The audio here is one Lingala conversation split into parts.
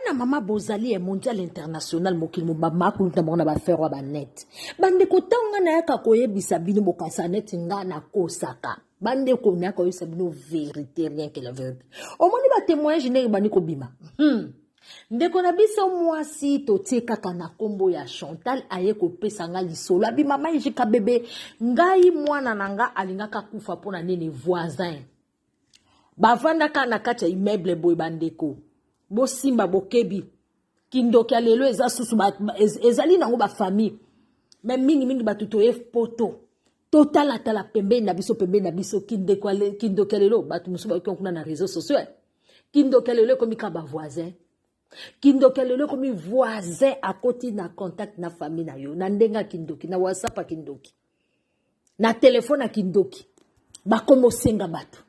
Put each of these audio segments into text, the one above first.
na mama bozali ya mondial international mokili mobamba akuluta bango na bafere ya banete bandeko ntango ngai nayaka koyebisa bino bokanisa neti ngai nakosaka bandeko nayaka koyebisa bino verité rien que la verité omoni batemoignage ndenge bandi kobima hmm. ndeko na biso mwasi totie kaka na nkombo ya chantal aye kopesa ngai lisolo abi mama ejika bebe ngai mwana na ngai alingaka kufa mpo na nini voisin bavandaka na kati ya immeuble boye bandeko bosimba bokebi kindoki ya lelo eza susu ezali nango bafamille me mingimingi bato toye poto totalatala pembeni na biso pembeni na biso kindoki ya lelo bato mosusu bayoki kuna na réseau sociaux kindoki ya lelo ekomi kaka bavoisin kindoki ya lelo ekomi voisin akoti na contact na famille na yo na ndenge ya kindoki na whatsapp ya kindoki na telefone ya kindoki bakomi osenga bato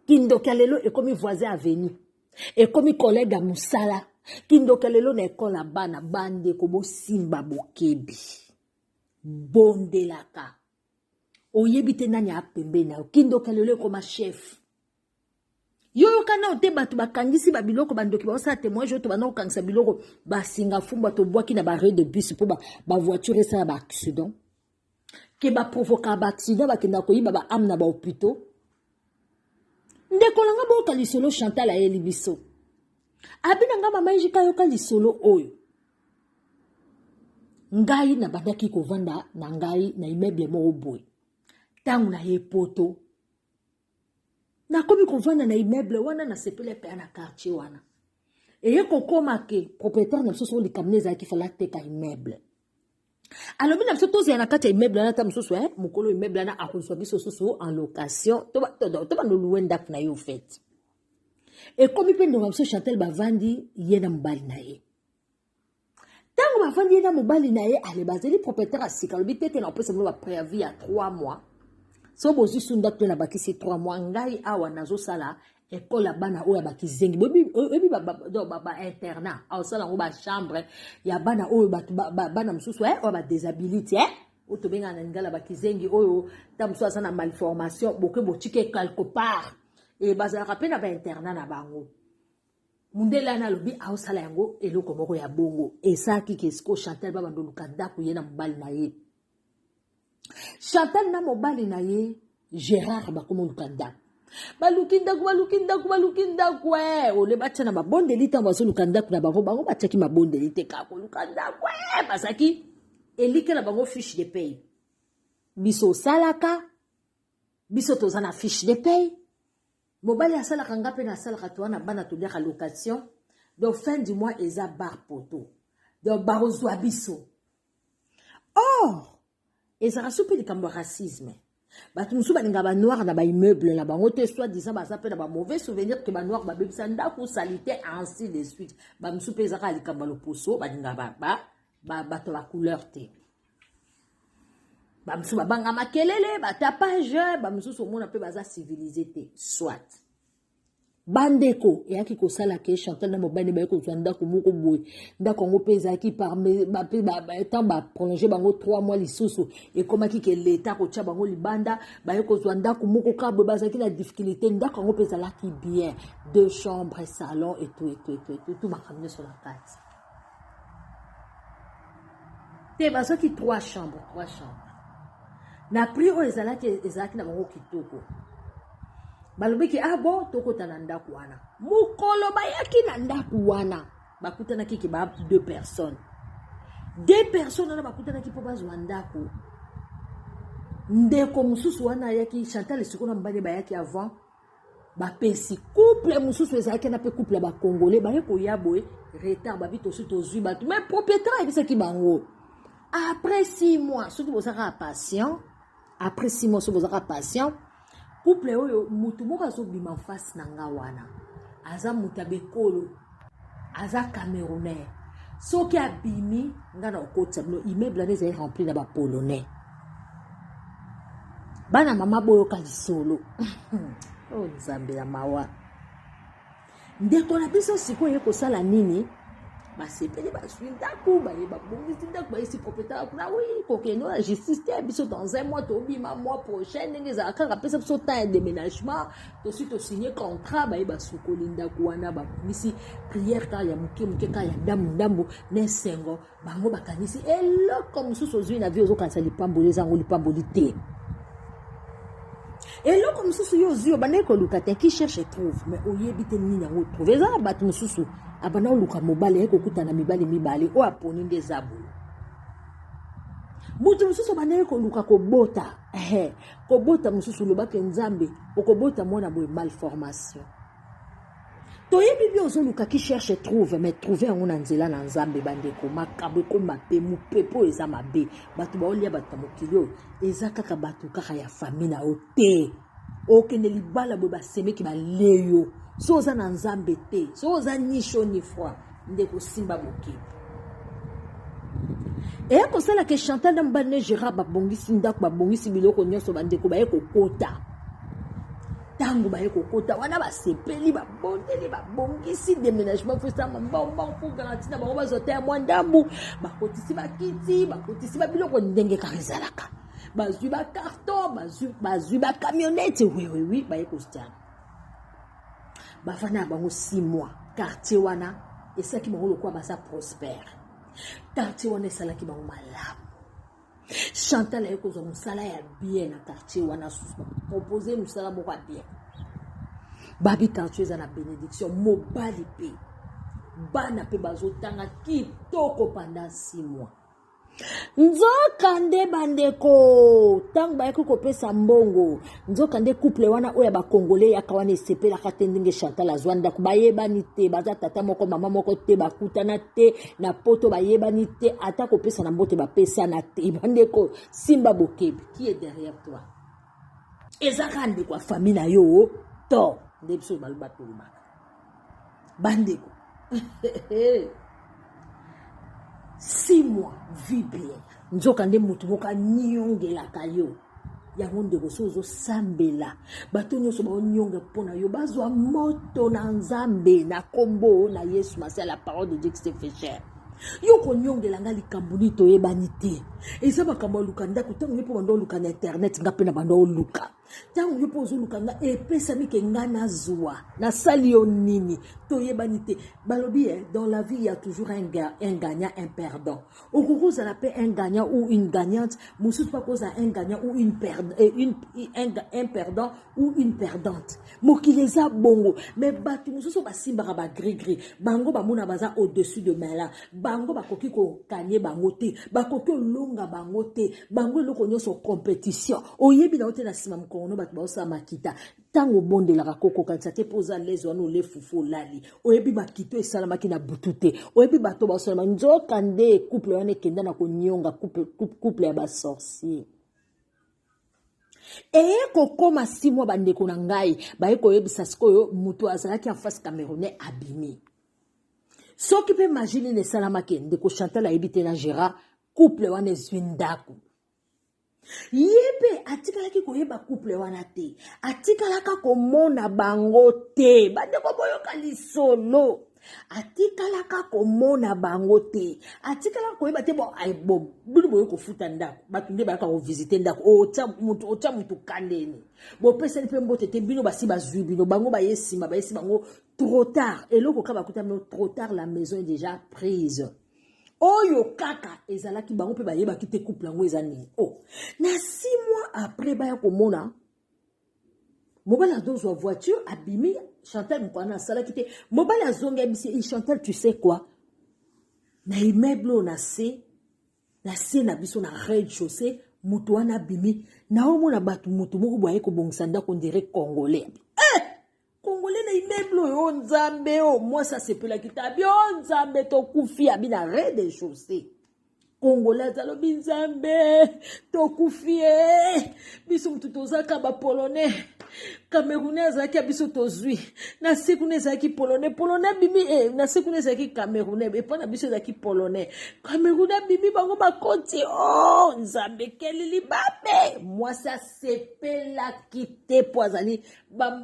kindoki ya lelo ekomi voisin avenu ekomi kolege ya mosala kindoki ya lelo na ekole ya bana bandeko bosimba bokebi bondelaka oyebi te nani apembeni na yo kindoki ya lelo ekoma chef yo yoka nao te bato bakangisi babiloko bandoki baosala témoignage oyo tobanda kokangisa biloko basinga fumba tobwaki na barre de bus mpo bavoiture ba esala baaccident ke baprovokaka baaccident bakendaka koyiba baame na bahopitau ndeko na nga boyoka lisolo chantal ayeli biso abi na nga mama ejika yoka lisolo oyo ngai nabandaki kovanda na ngai na immeuble moko boye ntango naye poto nakomi kovanda na immeuble wana nasepeli apea na quartier wana eye kokoma ke propriétaire na biso soko likambo na ezalaki fala ateka immeuble alobi na biso tozala na kati ya immeuble wana ata mosusu eh, mokolo immeuble wana akozwa biso susu en location tobanda oluwe ndako na ye ofete ekomi mpe ndonga biso chantel bavandi ye na mobali na ye ntango bafandi ye na mobali na ye ale bazali propriétaire ya sika alobi te ke na opesa bino bapreavis ya 3 mois so bozwi su ndako to na bakisi 3 mois ngai awa nazosala ekole ya bana oyo ya bakizengi oyebi bainternat aosala yango bachambre ya bana oyo bana mosusu eh, oyo badesabilite eh? oyo tobengana na lingala bakizengi oyo ta mosusu aza na malformation boke botike quelque part e bazalaka mpe na bainternat na bango mundele wana alobi aosala yango eloko moko ya bongo ezalaki ke sikoyo chantal babanda oluka ndako ye na mobali na ye chantal na mobali na ye gérard bakoma oluka ndako baluki ndako baluki ndako baluki ndako e eh, ole batya na mabondeli ntango bazoluka ndako na bango bango batyaki mabondeli te kaka koluka ndako e eh, bazalaki elike na bango fiche de pay biso osalaka biso toza na fiche de pay Mobali asalaka nga pe nasalaka to wana bana toliaka location. Donc fin du mois eza bar poto. Donc bakozwa biso. Or ezaka so pe likambo ya racisme. bato mosusu balinga banoire na baimmeuble na bango te soit disant baza mpe na bamauvais souvenir ke banoire babebisa ndako salite ainsi de suite bamosusu mpe ezaka likambo ya loposo balinga bato ya bacouleur te bamosusu babanga makelele batapage bamosusu omona mpe baza civilise te soit bandeko eyaki kosala ke chantal na mobali baye kozwa ndako moko boye ndako yango mpe ezalaki temps baprolonge bango 3 mois lisusu ekomaki ke leta kotya bango libanda baye kozwa ndako moko ka boye bazalaki na difficulté ndako yango mpe ezalaki bien deux chambres salon etu etu etu etu makambo nyonso na kati te bazwaki trois chambre trois chambre na prix oyo ezalaki ezalaki na bango kitoko balobaki ah bon tokota na ndako wana mokolo bayaki na ndako wana bakutanaki ke ba deux personnes deux personnes wana bakutanaki mpo bazwa ndako ndeko mosusu wana ayaki chantal esiko na mobali bayaki avant bapesi couple mosusu ezalaki na mpe couple ya bacongolais baye koya boye retard babi tosi tozwi bato mai propriétaire ayebisaki bango après six mois soki bozalaka patient après six mois soki bozalaka patient couple oyo motu moko azobima face na nga wana aza moto ya bekolo aza camerounais soki abimi nga na okotisa bino immeuble wana ezali rempli na bapolonais bana mama boyoka lisolo o oh, nzambe ya mawa ndeko na biso sikoyo ye kosala nini basepeli bazwi ndako baye babongisi ndako bayesi propriétaire kuna wi kokende na justice te biso dans un mois tobima mois prochain ndenge ezalaka kaka pesa biso temps ya déménagement tosi tosigne contrat baye basukoli ndako wana babongisi priere kaka ya moke moke kaka ya ndambu ndambu na esengo bango bakanisi eloko mosusu ozwi na vie ozokanisa lipamboli eza yango lipamboli te eloko mosusu yo ozwi obandaki koluka te qui cherche trouve mais oyebi te nini yango trouve eza na bato mosusu abanda koluka mobali aye kokutana mibali mibale oyo aponi nde eza boye moto mosusu obandaki koluka kobota kobota mosusu loba ke nzambe okobota mwana boye malformation toyebi bi ozoluka ki cherche trouve mais trouve yango na nzela na nzambe bandeko makambo ekoma mpe mopepe oyo eza mabe bato baolia bato na mokili oyo eza kaka bato kaka ya fami na yo te okende libala boye basemeki balie yo so oza na nzambe te so oza ni sho ni froid ndeko simba mokebi eya kosala ke chantal na mobali ne gérard babongisi ndako babongisi biloko nyonso bandeko baye kokota ntango baye kokota wana basepeli babondeli babongisi déménagement fosama mbongbong mpo garanti na bango bazwa ta ya mwa ndambu bakotisi bakiti bakotisi babiloko ndenge kaka ezalaka bazwi bacarton bazwi bacamionete wewewi baye kosala bafanda na bango 6 mois quartier wana esalaki bango lokola baza prospère quartier wana esalaki bango malamu chantal aye kozwa mosala ya bien na quartier wana propose mosala moko ya bien babi quartier eza na bénédiction mobali mpe bana mpe bazotanga kitoko pendant 6 mois nzokande bandeko ntango bayaki kopesa mbongo nzokande couple wana oyo ya bakongole yaka wana esepelaka te ndenge chantal azwa ndako bayebani te baza tata moko mama moko te bakutana te na poto bayebani te ata kopesa na mbote bapesana te bandeko simba bokebi qui est derrière toi eza kaka ndeko ya famille na yo to nde biso baloba tolobaka bandeko six mois vie bien nzoka nde motu moko aniongelaka yo yango ndeko so ozosambela bato nyonso baonionge mpo na yo bazwa moto na nzambe na nkombo na yesu masiya la parole de dieu christ fecher yo koniongela ngai likambo nini toyebani te eza makambo ya luka ndako ntango nde mpo banda oluka na internet ngai mpe na banda oluka ntango yo mpe ozoluka nga epesami ke nga nazwa nasali yo nini toyebani te balobi eh, dans la vie ya toujours un, ga, un gagnant un perdant okoki ozala mpe un gagnant ou une gagnante mosusu mpe akozala un gagnant ou une, per, eh, une, un, un perdant ou une perdante mokili eza bongo me bato mosusu basimbaka bagrigri bango bamona baza au-dessus de mala bango bakoki kokanye bango te bakoki olonga bango te bango eloko nyonso competition oyebi na yo te na nsima mokongono bato baosala makita ntango obondelaka kokokanisa te mpo oza lezi wana ole fufu olali oyebi makito esalamaki na butu te oyebi bato baosalama nzoka nde couple wana ekenda na konionga couple ya basorcier eye kokoma si mwa bandeko na ngai baye koyebisa sikoyo moto azalaki en face camerounais abimi soki mpe maji nini esalamaki ndeko chantal ayebi te na gérard couple wana ezwi ndako ye mpe atikalaki koyeba couple wana te atikalaka komona bango te bandeko boyoka lisolo atikalaka komona bango te atikalaka koyeba te bino boye kofuta ndako bato nde bayaka kovisite ndako otya motu kandeni bopesani mpe mbote te bino basi bazwi bino bango baye nsima bayesi bango trop tard eloko kaka bakuta bino trop tard la maison est déjà prise oyo kaka ezalaki bango mpe bayebaki te couple yango eza nini o oh, na six mois après baya komona mobali azozwa voiture abimi chantal mokwana asalaki te mobali azongi abisi e chantal tu sais quoi na immeuble oyo na se na se na biso na red chaussée moto wana abimi naomona bato moto moko boye kobongisa ndako ndire congolais congolais na immeuble oyo oh, nzambe o oh, mwasi asepelaki tabi o oh, nzambe tokufi abi na re de chaussée congolais alobi nzambe tokufi e eh. biso motu tozaka bapolonais camerounais azalaki ya biso tozwi na se kuna ezalaki polonais polonais abimi e na se kuna ezalaki camerounais epai na biso ezalaki polonais camerounais abimi bango bakoti o oh, nzambe ekeli libabe mwasi asepelaki te mpo azali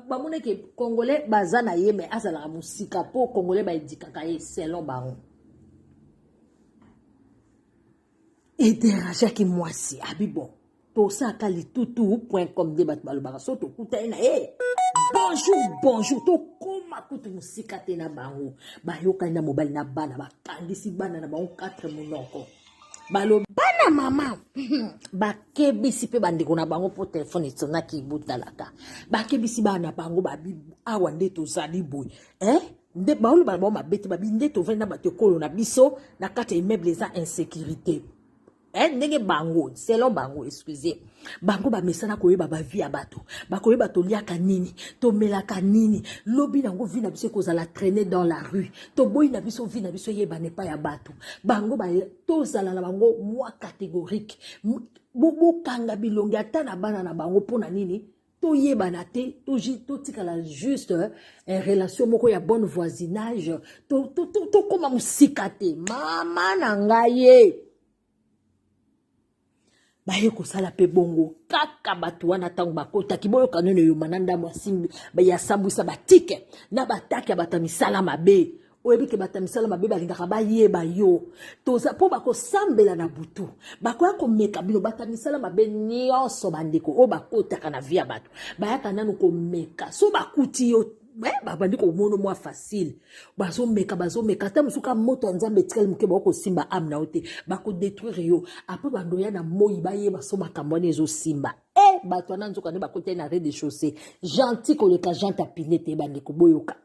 bamona ke congolais baza na ye mai azalaka mosika mpo congolais baedikaka ye selon bango ederajaki mwasi abi bon tosalaka litutu point com nde bato balobaka so tokutani na ye bonjour bonjour tokóma kutu mosika te na bango bayokani na mobali na bana bakangisi bana na bango 4 monoko balobi bana mama bakebisi mpe bandeko na bango mpo telefone esonaki ibotalaka bakebisi bana na bango babi awa nde tozali boye eh? nde baoyo bana bango mabe te babi nde tovandi na bato ekolo na biso na kati ya immeuble eza insécurité eh? ndenge bango selon bango excusez bango bamesana koyeba bavi ya bato bakoyeba toliaka nini tomelaka nini lobi nango vi na biso ekozala traine dans la rue toboyi na biso vi na biso eyebana epai ya bato bango tozala na bango mwa catégorique bokanga bilongi ata na bana na bango mpo na nini toyebana te totikala juste eh, relation moko ya bonne voisinage tokóma to, to, to mosika te mama na ngai ye baye kosala mpe bongo kaka bato wana ntango bakotaki boyoka nono eyoma na ndambo ya sambwisa batike na batake ya bato ya misala mabe oyebi ke bato ya misala mabe balingaka bayeba yo toza mpo bakosambela na butu bakoya komeka bino bato ya misala mabe nyonso bandeko oyo bakotaka na vi ya bato bayaka nano komeka so bakuti yo eh, babandi komono mwa facile bazomeka bazomeka ata mosuka moto ya nzambe etikali moke bako kosimba ame na yo te bakodetruire yo apres bandoya na moi bayeba so makambo wana ezosimba e eh, bato wana nzoka nde bakotali na rez de chaussée gentil koleka jante apine te bandeko boyoka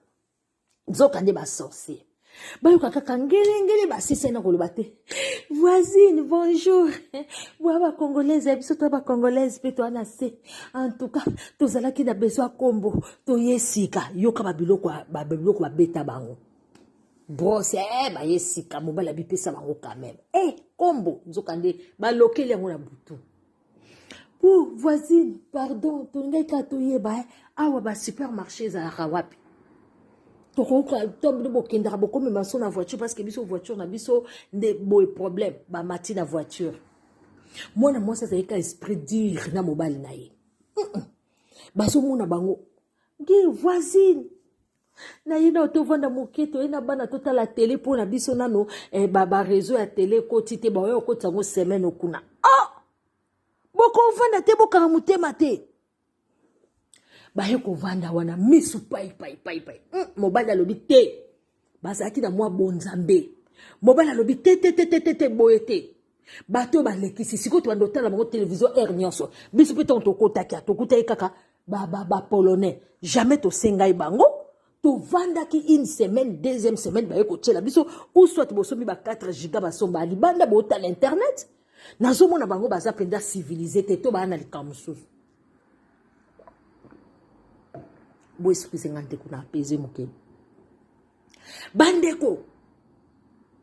nzoka nde basorcier bayoka kaka ngelengele basisai na koloba te voisine bonjour bwa bacongolaise ya biso to bacongolaise mpe toa na se en tout cas tozalaki na besoin kombo toye sika yoka babiloko babiloko babeta bango brose eh, baye sika mobali abipesa bango quand meme e eh, kombo nzokande balokeli yango na butu pour voisine pardon tolingaki kaka toyeba eh, awa basupermarché ezalaka wapi tokoki bokendaka bokomema so na voiture parce que biso voiture na biso nde boye problème bamati na voiture mwana mwasi azali ka esprit dire na mobali na ye bazomona bango ge voisine na ye nao tovanda moke toye na bana totala tele mpo na biso nano eh, bareseau ya tele ekoti te baoya okotisa yango semaine okuna oh! bokovanda te bokanga motema te baye kovanda wana misu paipaipai hmm, mobali alobi te bazalaki na mwa bonzambe mobali alobi te te te te te te boye te bato oyo balekisi sikoyo tobanda otala bango televizio aire nyonso biso mpe ntango tokotaki a tokutaki kaka bapolonais ba, ba jamais tosengai bango tovandaki une semaine deuxième semaine baye kotyela biso ou soit bosomi ba 4 giga basomba libanda botala internet nazomona bango baza mpenza civilise te to baa na likambo mosusu boesukise ngai ndeko na apese mokeli bandeko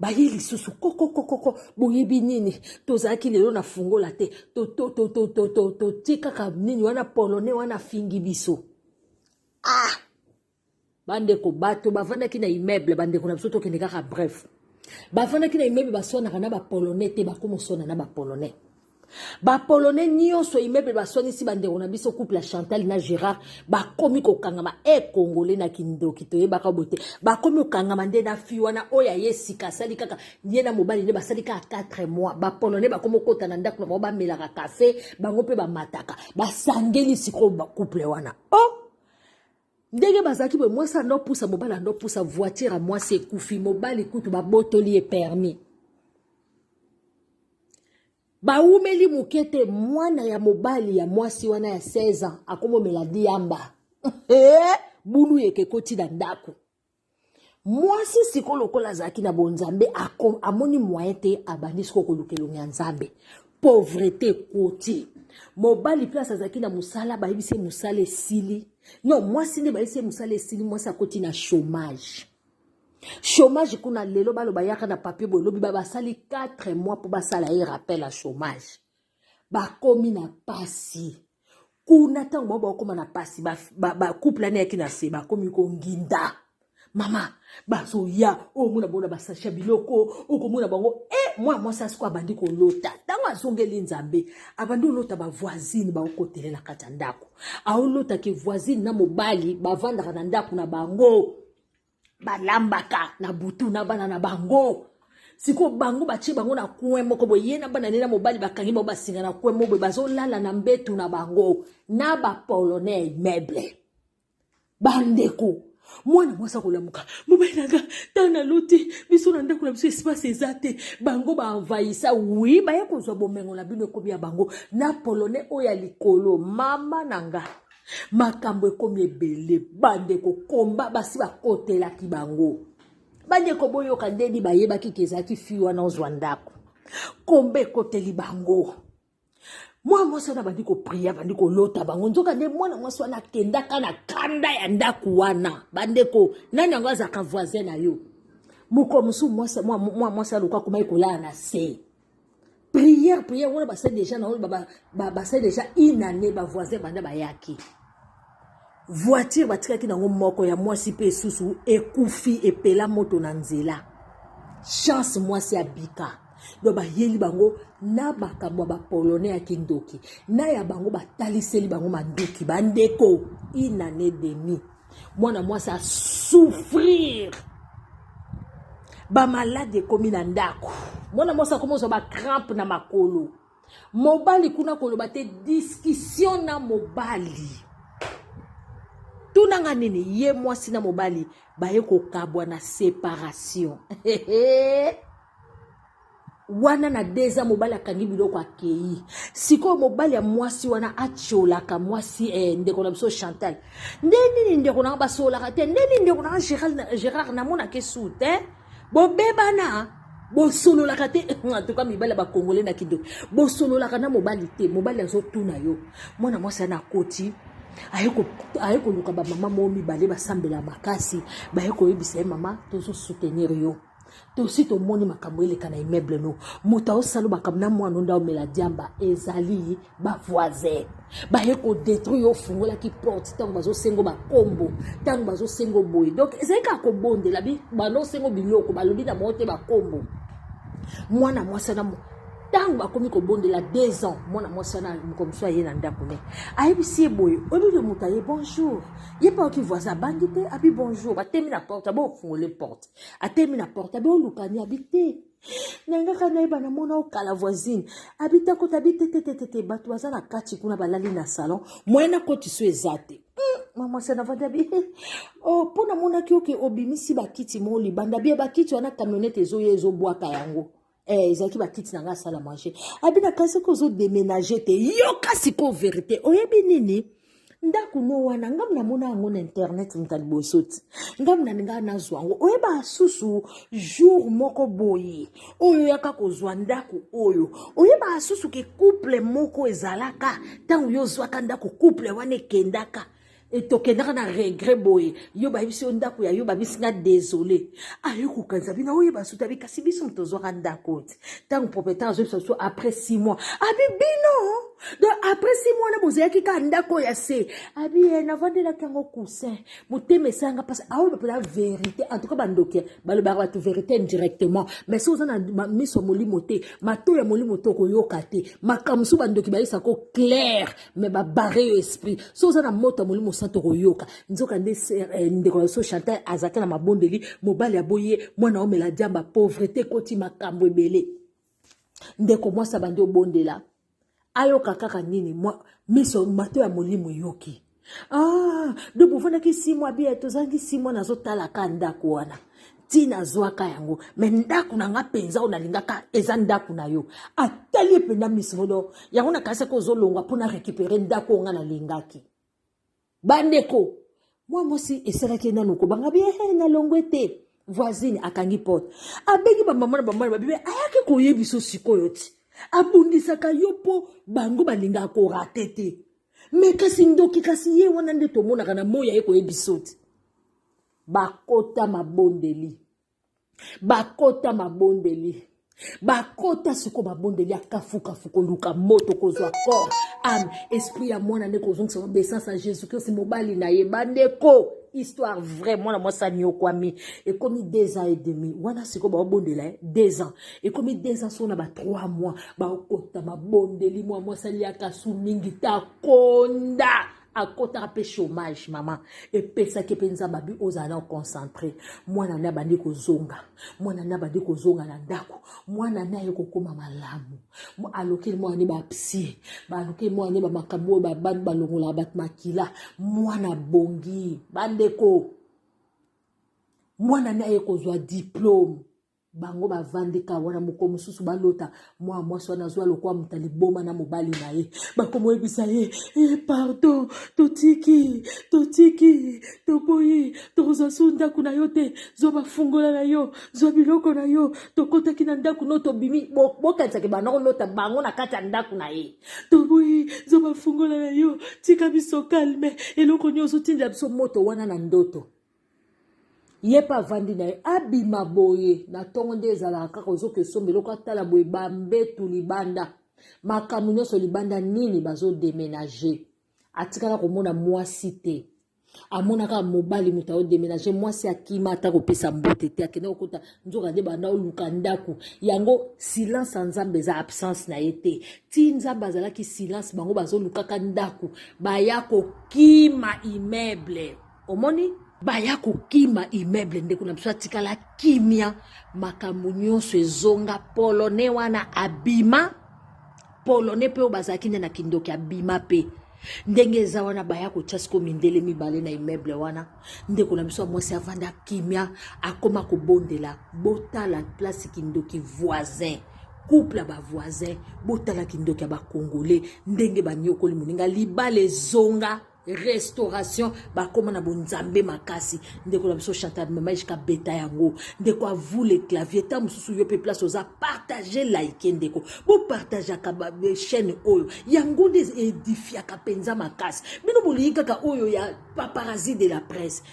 baye lisusu kokokokoko boyebi nini tozalaki lelo na fungola te totie kaka nini wana polone wana afingi biso ah bandeko bato bavandaki na immeuble bandeko na biso tokende kaka bref bavandaki na immeuble baswanaka na bapolonais te bakoma oswana na bapolonais ba polonais nyonso immeuble baswanisi bandeko na biso couple ya chantal na gérard bakomi kokangama e eh, congolais na kindoki toyebaka bo te bakomi kokangama nde na fi wana oyo aye sika asali kaka ye na mobali nde basali kaka 4 mois ba polonais bakomi kokota na ndako na bango bamelaka kafe bango mpe bamataka basangeli sikoyo couple wana o oh! ndenge bazalaki boye mwasi ando pusa mobali ando pusa voiture ya mwasi ekufi mobali kutu babotoli ye permis bawumeli moke te mwana ya mobali ya mwasi wana ya 16 ans akomomela diamba bulu yeke ekoti na ndako mwasi sikoyo lokola azalaki na bonzambe amoni moyen te abandi sikoyo koluka elongi ya nzambe pauvrete koti mobali place azalaki na mosala bayebisi ye mosala esili no mwasi nde bayebisi ye mosala esili mwasi akoti na chômage chômage kuna lelo baloba yaka na papier boye lobi babasali 4 mois mpo basala ye rappel ya chômage bakomi na pasi kuna ntango bango bakokoma na pasi bacouple ane yaki na se bakomi konginda mama bazoya omona bango na basashi ya biloko okomona bango e eh, mwana mwasi asiko abandi kolota ntango azongeli nzambe abandi olota bavoisine baokotele na kati ya ndako aolotaki voisine na mobali bavandaka na ndako na bango balambaka na butu na bana na bango sikoyo bango batye bango na coin moko boye ye na bana ne na mobali bakangi bango basinga na coin moko boye bazolala na mbetu na bango na bapolonais meuble bandeko mwana mwasi akolamuka mobali nanga ntango naloti biso na ndako na biso espace eza te bango baenvahisa wi baya kozwa bomengo na bino ekomi ya bango na polonais oyo ya likolo mama na nga makambo ekomi ebele bandeko komba basi bakotelaki bango bandeko boyoka ndeni bayebaki ke ezalaki fi wana ozwa ndako komba ekoteli bango mwana mwasi wana abandi kopria abandi kolota bango nzoka nde mwana mwasi wana akendaka na kanda ya ndako wana bandeko nani yango azalaka voisin na yo mokolo mosusu mwana mwasi aluka akomaki kolala na se prière prière wana basali déjà na oyo basali déjà une année bavoisin banda bayaki voiture batikaki nango moko ya mwasi mpe esusu ekufi epela moto na nzela chance mwasi abika do bayeli bango na makambo ya bapolonais ya kindoki na ya bango bataliseli bango manduki bandeko inane demi mwana mwasi asouffrir bamaladi ekomi na ndako mwana mwasi akomi ozwa bacrampe na makolo mobali kuna koloba te diskisio na mobali tunanga nini ye mwasi na mobali baye kokabwa na separation wana na deza mobali akangi biloko akei sikoyo mobali ya mwasi wana atiolaka mwasi eh, ndeko na biso chantal nde nini ndeko nanga basololaka te nde nini ndeko nanga gérard namonaka esu te bobebana bosololaka te antuka mibali ya bakongole na kindoki bosololaka na mobali te mobali azotuna yo mwana mwasi ana akoti aye koluka bamama moo mibale basambela makasi baye koyebisa ye mama tozosoutenir yo tosi tomoni makambo eleka na immeuble no moto aosala makambo na mwana onda omela diamba ezali bavoisin baye kodetruire ofungolaki porte ntango bazosengo bakombo ntango bazosengo boye donc ezali kaka kobondela banda osengo biloko balobi na bango te bakombo mwana mwasi wana ntango bakomi kobondela deux ans mwana mwasi wana moko mosusu aye na ndako ne ayebisi ye boye oyebi yo moto aye bonjour ye mpe aoki voisin abangi te abi bonjour batemi na porte abofungole porte atemi na porte abi olukani abi te nangaka nayeba namona okala voisine abi te akota abi te tetetete bato baza na kati kuna balali na salon moyen nakoti so eza te hmm, mama sanavandi abi oh, mpo namonaki oke obimisi bakiti mo libanda bie bakiti wana camionete ezoya ezobwaka yango Eh, ezalaki bakiti na ngai asala mange abi na kasi ko ozo deménage te yoka sikoyo verité oyebi nini ndako no wana ngai namona yango na internet moto ya liboso ti ngai nalingaa nazwa yango oyeba asusu jour moko boye oyo oyaka kozwa ndako oyo oyeba asusu ke couple moko ezalaka ntango yo ozwaka ndako couple wana ekendaka et tokendaka na regret boye yo bayebisi yo ndako ya yo babisi nga désolé ayo kokanisa bino oyeba suta bi kasi biso moto tozwaka ndako te ntango propriétaire azoyebisa biso après six mois abi bino donc après six mois wana bozalaki kaka ndako ya se abi ye eh, navandelaki yango coussin motema esanga mpasi aoyeba mpena vérité en tout cas bandoki balobaka bato vérité indirectement mais so oza na miso ya molimo te mato ya molimo te okoyoka te makambo mosusu bandoki bayebisako claire me babare yo esprit so oza na moto ya molimo santu okoyoka nzoka nde eh, ndeko ya so chantal aza te na mabondeli mobali aboyi ye mwana omela diamba pauvrete ekoti makambo ebele ndeko mwasi abandi obondela ayoka kaka nini miso mato ya molimo eyoki ah donc bofandaki simwa bie tozangi simwa nazotalaka ndako wana ti nazwaka yango me ndako na nga mpenza oyo nalingaka eza ndako na yo atali ye mpenza misimodo yango nakanisaki ozolongwa mpo na récupere ndako oyo nga nalingaki bandeko mwa mwasi esalaki ye nano kobanga bi ehe eh, nalongwe te voisine akangi porte abengi bamama na bamana babibe ayaki koyebiso sikoyo ti abundisaka yo mpo bango balingaka korate te me kasi ndoki kasi ye wana nde tomonaka na moi aye koyebiso ti bakota mabondeli bakota mabondeli bakota siko babondeli ya kafukafu koluka moto kozwa kor ame esprit ya mwana nde kozongisa obeissance ya jésus christ mobali na ye bandeko histoire vrai mwana mwasi aniokwami ekomi deux ans et demi wana sikoyo baobondela ye deux ans ekomi deux ans soko na ba trois mois baokota mabondeli mwa mwasi aliaka su mingi takonda akotaka mpe chômage mama epesaki mpe nzambe abi ozala na oconcentre mwana ne abandi kozonga mwana ne abandi kozonga na ndako mwana ne aye kokóma malamu alokeli mwana ne bapsie balokeli mwana ne bamakambo oyo babandi balongolaka bato makila mwana abongi bandeko mwana ne aye kozwa diplome bango bavandi ka wana mokolo mosusu balota mwa mwasi wana azwa lokola moto liboma na mobali na ye bakomoyebisa ye e pardon totiki totiki toboyi tokozwa su ndako na yo te zwa bafungola na yo zwa biloko na yo tokotaki na ndako no tobimi bokanisaki bana kolota bango na kati ya ndako na ye toboyi zwa bafungola na yo tika biso kalme eloko nyonso otindela biso moto wana na ndoto ye mpe avandi na ye abima boye na ntongo nde ezalaka kaka ozoka esomba eloko atala boye bambetu libanda makambo nyonso libanda nini bazodemenage atikala komona mwasi te amonaka mobali moto aodemenage mwasi akima ata kopesa mbote te akende kokota nzoka nde banda oluka ndako yango silence ya nzambe eza absence na ye te ti nzambe azalaki silence bango bazolukaka ndako baya kokima immeuble omoni baya kokima immeuble ndeko na biso atikala kimia makambo nyonso ezonga polonais wana abima polonais mpe oyo bazalaki nde na kindoki abima mpe ndenge eza wana baya kotya siko mindele mibale na immeuble wana ndeko na biso ya mwasi avanda kimia akoma kobondela botala place kindoki voisin couple ya bavoisin botala kindoki ya bacongolais ndenge baniokoli moninga libala ezonga restauration bakoma na bonzambe makasi ndeko na biso chantal mamaishka beta yango ndeko avule clavier ntango mosusu yo mpe place oza partage like ndeko bopartageaka chaîne oyo yango nde edifiaka mpenza makasi bino bolingi kaka oyo ya paparazzi de la presse